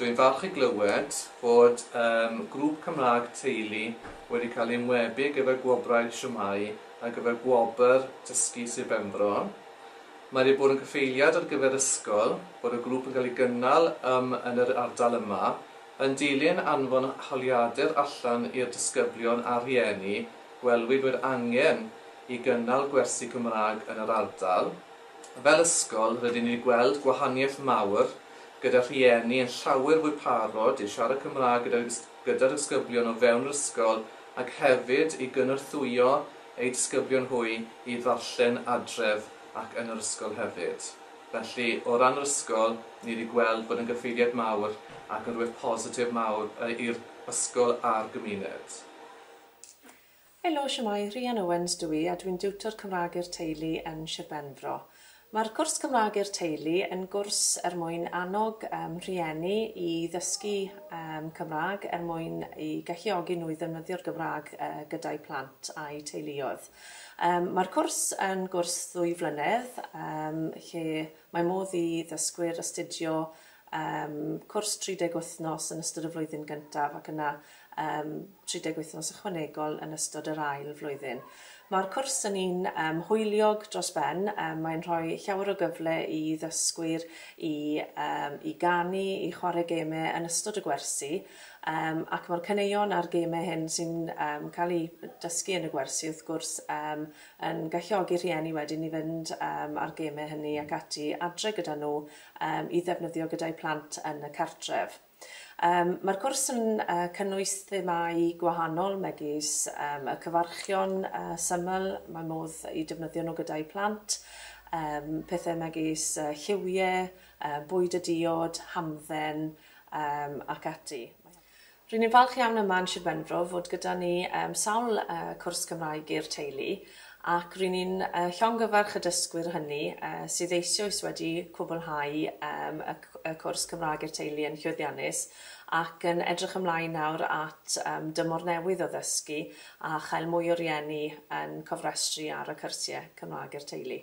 Dwi'n falch i glywed fod eich grŵp Cymraeg teulu wedi cael ei ymwebu gyda Gwobrau Shwmai ar gyfer Gwobr Dysgu Sir Benfro. Mae wedi bod yn gyfeiliad ar gyfer ysgol fod y grŵp yn cael ei gynnal ym yn yr ardal yma, yn dilyn anfon holiadur allan i'r disgyblion a rhieni, gwelwyd fod angen i gynnal gwersi Cymraeg yn yr ardal. Fel ysgol, rydyn ni'n gweld gwahaniaeth mawr, gyda rhieni yn llawer fwy parod i siarad Cymraeg gyda'r gyda'r disgyblion o fewn yr ysgol ac hefyd i gynorthwyo eu disgyblion hwy i ddarllen adref ac yn yr ysgol hefyd. Felly, o ran yr ysgol, ni wedi gweld bod yn gyffeiriad mawr ac yn rhywbeth positif mawr i'r ysgol a'r gymuned. Helo, shwmae, Rhian Owens dw i a dwi'n diwtor Cymraeg i'r Teulu yn Shir Benfro. Mae'r cwrs Cymraeg i'r Teulu yn gwrs er mwyn annog um, rhieni i ddysgu um, Cymraeg er mwyn i galluogi nhw i ddefnyddio'r Gymraeg uh, gyda'u plant a'u teuluoedd. Um, mae'r cwrs yn gwrs ddwy flynedd um, lle mae modd i ddysgwyr astudio Yym, cwrs 30 wythnos yn ystod y flwyddyn gyntaf ac yna yym 30 wythnos ychwanegol yn ystod yr ail flwyddyn. Mae'r cwrs yn un yym hwyliog dros ben, yym mae'n rhoi llawer o gyfle i ddysgwyr i yym i ganu, i chwarae gemau yn ystod y gwersi, yym ac mae'r caneuon a'r gemau hyn sy'n yym cael eu dysgu yn y gwersi wrth gwrs yym yn galluogi rhieni wedyn i fynd yym â'r gemau hynny ac ati adre gyda nhw yym i ddefnyddio gyda'u plant yn y cartref. Yym ma'r cwrs yn yy cynnwys themâu gwahanol megis yym y cyfarchion yy syml mae modd i defnyddio nhw gyda'u plant yym pethe megis yy lliwie yy bwyd y diod, hamdden yym ac ati. Ry'n ni'n falch iawn yma yn Sir Benfro fod gyda ni yym sawl yy cwrs Cymraeg i'r teulu ac ry'n ni'n yy llongyfarch y dysgwyr hynny yy sydd eisioes wedi cwblhau yym y c- y cwrs Cymraeg i'r teulu yn llwyddiannus ac yn edrych ymlaen nawr at yym dymor newydd o ddysgu a chael mwy o rieni yn cofrestru ar y cyrsie Cymraeg i'r teulu.